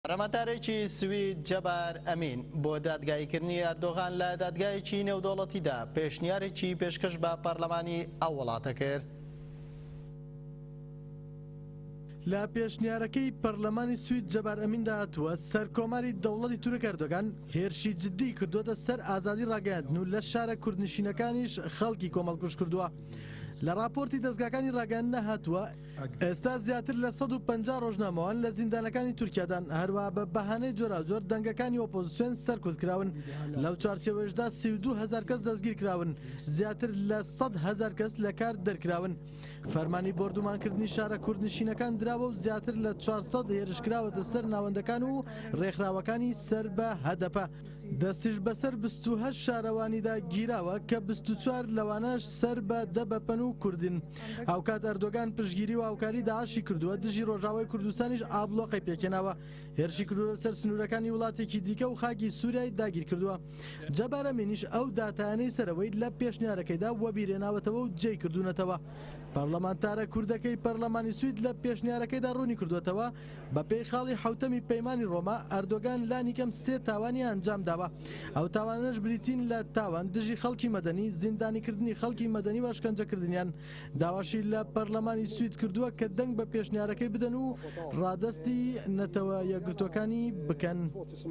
پەرلەمانتارێکی سوید جەبار ئەمین بۆ دادگاییکردنی ئەردۆغان لە دادگایەکی نێودەوڵەتیدا پێشنیارێکی پێشکەش بە پەرلەمانی ئەو وڵاتە کرد. لە پێشنیارەکەی پەرلەمانی سوید جەبار ئەمیندا هاتووە، سەرکۆماری دەوڵەتی تورک ئەردۆگان هێرشی جددیی کردووەتە سەر ئازادی ڕاگەیاندن و لە شارە کوردنشینەکانیش خەڵکی کۆمەڵکوژ کردووە. لە ڕاپۆرتی دەزگاکانی ڕاگەیاندندا هاتووە، ئێستا زیاتر لە سەد و پەنجا ڕۆژنامەوان لە زیندانەکانی تورکیادان، هەروەها بە بەهانەی جۆراوجۆر دەنگەکانی ئۆپۆزسیۆن سەرکوتکراون، لەو چوارچێوەیەشدا سی و دوو هەزار کەس دەستگیرکراون، زیاتر لە سەد هەزار کەس لە کار دەرکراون. فەرمانی بۆردومانکردنی شارە کوردنشینەکان دراوە و زیاتر لە چوار سەد هێرش کراوەتە سەر ناوەندەکان و ڕێکخراوەکانی سەر بە هەدەپە، دەستیش بەسەر بیست و هەشت شارەوانیدا گیراوە کە بیست و چوار لەوانەش سەر بە دەبەپەن و کوردن. هاوکات ئەردۆگان پشگیری و هاوکاری داعشی کردووە دژی ڕۆژاوای کوردستانیش ئابلۆقەی پێکێناوە هێرشی کردوە سەر سنوورەکانی وڵاتێکی دیکە و خاکی سووریای داگیر کردووە جەبارە منیش ئەو داتانەی سەرەوەی لە پێشنیارەکەیدا وەبیرێناوەتەوە و جێی کردوونەتەوە پەرلەمانتارە کوردەکەی پەرلەمانی سوید لە پێشنیارەکەیدا ڕوونی کردوێتەوە بەپێی خاڵی حەوتەمی پەیمانی ڕۆما، ئەردۆگان لانیکەم سێ تاوانی ئەنجامداوە، ئەو تاوانانەش بریتین لە، تاوان دژی خەڵکی مەدەنی، زیندانیکردنی خەڵکی مەدەنی و ئەشکەنجەکردنیان، داواشی لە پەرلەمانی سوید کردووە کە دەنگ بە پێشنیارەکەی بدەن و ڕادەستی نەتەوە یەکگرتووەکانی بکەن.